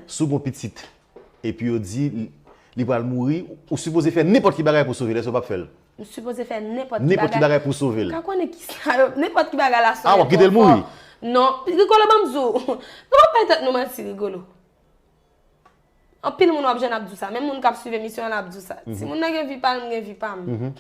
Si w gen yon pitit epi yo di li pral mouri, ou sipoze fè nenpòt ki bagay pou w sove l, èske w pap fè l? M sipoze fè nenpòt ki bagay. Nenpòt ki bagay pou w sove l. Ou ka konnen kisa yo, nenpòt ki bagay la sone twò fò. A, w ap kite l mouri? Non. Rigolo ban m di w, nou pa bay tèt nou manti Rigolo. Anpil moun w ap jwenn ap di w sa, menm moun k ap swiv emisyon an la ap di w sa. Timoun nan gen vi pa l, m gen vi pa m.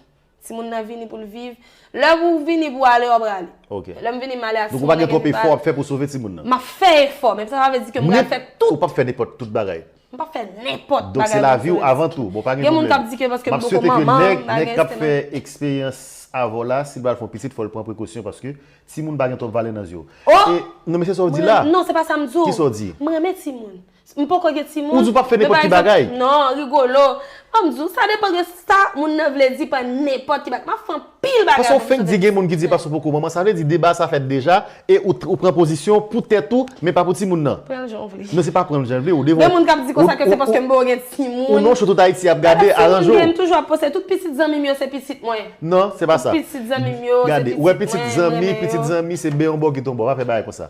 Timoun nan vini pou l viv. Lè pou w vini pou w ale w ap rale. Ok. Lè m vini m ale a si m gen Donk ou pa gen twòp efò w ap fè pou w sove timoun nan. M ap fè efò men sa pa vle di ke m pral fè tout. Ou p ap fè nenpòt tout bagay. M p ap fè nenpòt bagay pou m sove ti timoun. Donk se lavi w avan tou. Bon pa gen pwoblèm. Gen moun k ap di ke paske m poko manman bagay se nan. M ap swete ke nèg k ap fè eksperyans avè w la si l pral fè yon pitit fò l pran prekosyon paske timoun pa gen twòp valè nan zye w. Oh! E non men se sa w di la. Non se pa sa m di w. Ki sa w di? M renmen timoun. M poko gen timoun. Ou di w pap fè nenpòt ki bagay. Non, Rigolo. Fò m di w, sa depan de sa moun nan vle di pa nenpòt ki bagay. Map fè anpil bagay Paske ou fenk di gen moun ki di paske ou poko manman, sa vle di deba sa fèt deja e ou pran pozisyon pou tèt ou men pa pou timoun nan. Pran l jan w vle. Non se pa pran l jan l vle, ou devan. Gen moun kap di konsa ke se paske m poko gen timoun. Ou non chou tout Ayiti ap gade, aranjew. Sa pa timoun gen, m toujou ap poste tout pitit zanmi m yo se pitit mwen. Non, se pa sa. Tout pitit zanmi m yo se pitit mwen, m renmen yo. Gade, wè pitit zanmi, pitit zanmi se bè yon bò kit yon bò, pa fè bagay konsa.